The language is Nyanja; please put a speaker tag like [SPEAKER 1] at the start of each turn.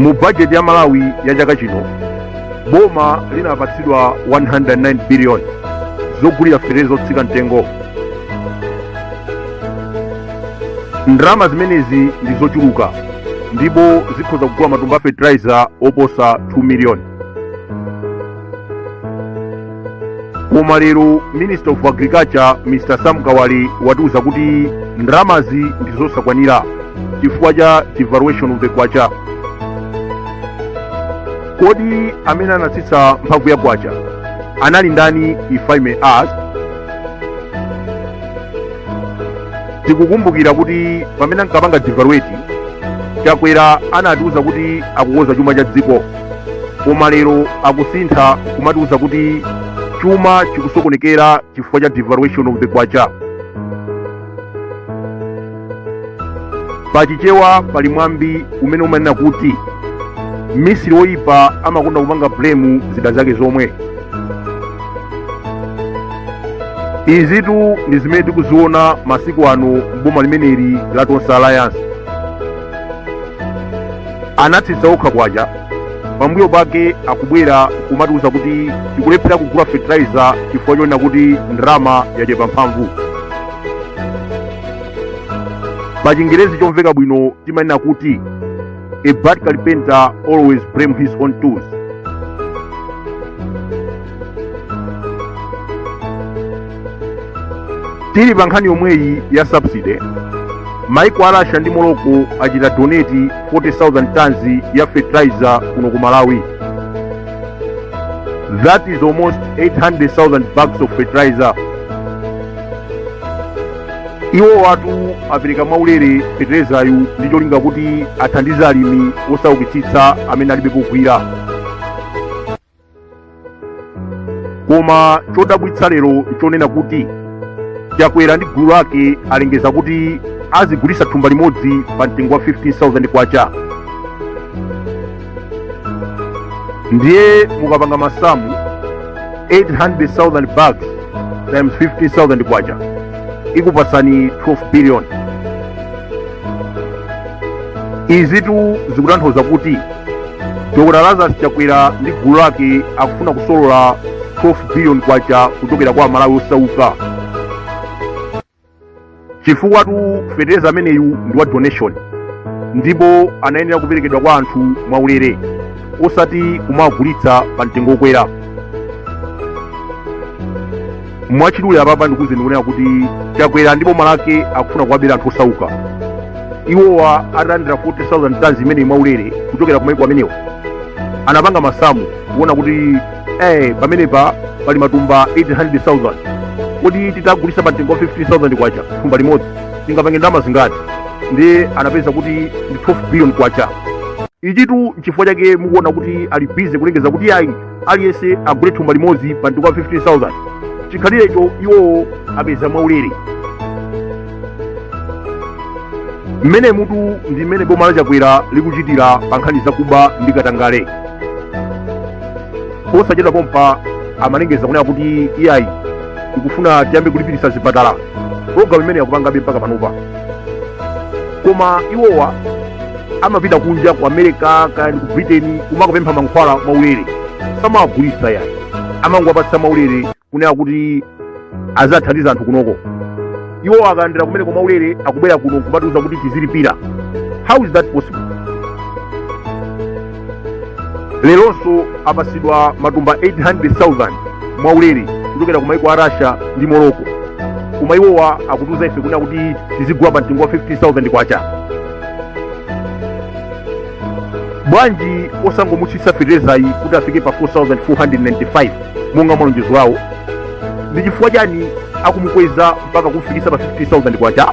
[SPEAKER 1] mu bajeti ya malawi ya chaka chino boma linapatsidwa 109 biliyoni zogulira fetereza zotsika mtengo ndalama zimenezi ndi zochuluka ndipo zikhoza kugula matumba a fertilizer oposa 2 miliyoni koma lero minister of agriculture mr sam kawale atiuza kuti ndalamazi ndi zosakwanira chifukwa cha devaluation of the kwacha kodi amene anatsitsa mphamvu ya kwacha anali ndani if i may ask tikukumbukira kuti pamene ankapanga devaluate chakwera anatiuza kuti akukonza chuma cha dziko koma lero akusintha kumatiuza kuti chuma chikusokonekera chifukwa cha devaluation of the kwacha pa chichewa pali mwambi umene umanena kuti mmisiri woyipa amakonda kupanga blame zida zake zomwe izitu ndi zimene tikuziona masiku ano m'boma limeneli la tonse alliance anatsitsa okha kwacha pambuyo pake akubwera kumatiuza kuti tikulephera kugula fertilizer chifukwa chonena kuti ndalama yachepa mphamvu pa chingerezi chomveka bwino timanena kuti a bad carpenter always blame his own tools tili pa nkhani yomweyi ya subsidy maiko a russia ndi morocco achita donate 40000 tons ya fertilizer kuno ku malawi that is almost 800000 bags of fertilizer iwowatu apereka mwaulere feterezayu ndi cholinga kuti athandize alimi osaukitsitsa amene alibe pogwira koma chodabwitsa lero nchonena kuti chakwera ndi gulu lake alengeza kuti azigulitsa thumba limodzi pa mtengo wa 15000 kwacha ndiye mukapanga masamu 800,000 bags times 15,000 kwacha ikupasani 12 billion izitu zikutanthauza kuti dr lazarus chakwera ndi gulu lake akufuna kusolola 12 billion kwacha kuchokera kwa amalawi osauka chifukwa tu fetereza ameneyu ndi wa donation ndipo anayenera kuperekedwa kwa anthu mwaulere osati kumagulitsa pa mtengo okwera mwachidule apapa ndikuuzeni kunena kuti chakwera ndi boma lake akufuna kuwabera anthu osauka iwowa atalandira 40000 tons imeneyi mwaulere kuchokera ku maiko amenewo anapanga masamu kuona kuti eh pamenepa pali matumba 800000 kodi titagulisa pa mtengo wa 15000 kwacha thumba limodzi tingapange ndalama zingati ndiye anapeza kuti ndi 12 billion kwacha ichitu nchifukwa chake mukuona kuti ali busy kulengeza kuti ayi aliyense agule thumba limodzi pa mtengo wa 15000 chikhalirecho iwowo apeza mwaulere mmenemutu ndi mmene boma la chakwera likuchitira pa nkhani zakuba ndi katangale posachedwa pompa amalengeza kunena kuti iyayi tikufuna tiyambe kulipiritsa zipatala programu imeneyi akupangabe mpaka panopa koma iwowa amapita kunja ku america kaya ndi ku britain kumakapempha mankhwala mwaulere samawagulitsa yayi amangowapatsa mwaulere kunena kuti aziwathandiza anthu kunoko iwo akalandira kumeneko mwaulere akubwera kuno kumatiuza kuti tizilipira how is that possible leronso apasidwa matumba 800,000 mwaulere kuchokera ku maiko a russia ndi morocco koma iwowa akutiuza ife kunena kuti tizigula pa mtengo wa 15,000 kwacha bwanji osangomutsitsa feterezayi kuti afike pa 4495 monga malonjezo awo ndi chifukwa chani akumukweza mpaka kumfikisa pa 15000 kwacha